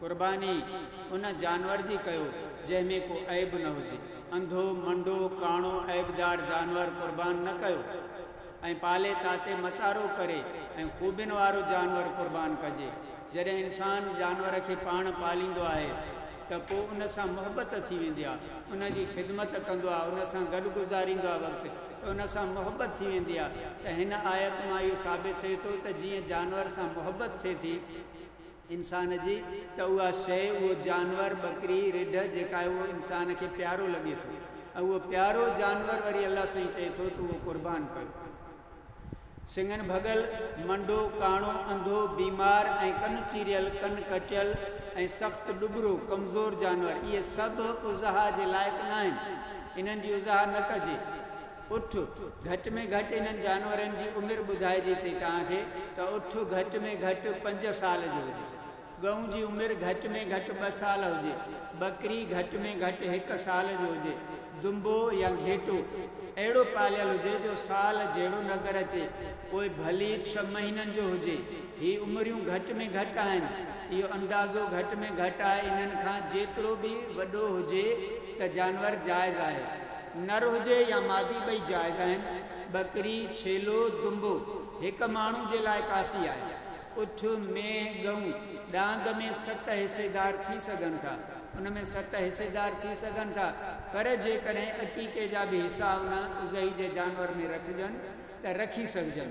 قرباني ان جانور جي ڪيو، جنهن ۾ ڪو عيب نه هجي. انڌو، منڊو، ڪاڻو، عيبدار جانور قربان نه ڪيو ۽ پالي تاتي متارو ڪري ۽ خوبين وارو جانور قربان ڪجي. جڏهن انسان جانور کي پاڻ پاليندو آهي ته پوء ان سان محبت ٿي ويندي آهي، ان جي خدمت ڪندو آهي، ان سان گڏ گذاريندو آهي وقت ته ان سان محبت ٿي ويندي آهي ته هن آيت مان اهو ثابت ٿئي ٿو ته جيئن جانور سان محبت ٿئي ٿي، انسان جي ته اها شيء، اهو جانور، ٻڪري، رڍ، جيڪا آهي اهو انسان کي پيارو لڳي ٿو ۽ اهو پيارو جانور وري الله سائين چئي ٿو ته اهو قربان ڪيو. سڱن ڀڳل، منڊو، ڪاڻو، انڌو، بيمار ۽ ڪن چيريل، ڪن ڪٽيل ۽ سخت ڏٻرو، ڪمزور، جانور اهي سڀ اضحيٰ جي لائق ناهن. انهن جي اضحيٰ نه ڪجي. اٺ، گهٽ ۾ گهٽ انهن جانورن جي عمر ٻڌائجي ٿي توهان کي ته اٺ گهٽ ۾ گهٽ پنج سال جو هجي. ڳئون جي عمر گهٽ ۾ گهٽ ٻه سال هجي. ٻڪري گهٽ ۾ گهٽ هڪ سال جو هجي. دنبو يا گهيٽو اهڙو پاليل هجي جو سال جهڙو نظر اچي. پوء ڀلي ڇهه مهينن جو هجي. هي عمريون گهٽ ۾ گهٽ آهن. اهو اندازو گهٽ ۾ گهٽ آهي انهن کان جيترو به وڏو هجي ته جانور جائز آهي. نر هجي يا مادي ٻئي جائز آهن. ٻڪري، ڇيلو، دنبو هڪ ماڻهو جي لاء ڪافي آهي. اٺ، مينهن، ڳئون ڏاند ۾ ست حصيدار ٿي سگهن ٿا. ان ۾ ست حصيدار ٿي سگهن ٿا پر جيڪڏهن عقيقي جا به حصا ان اضحي جي جانور ۾ رکجن ته رکي سگهجن.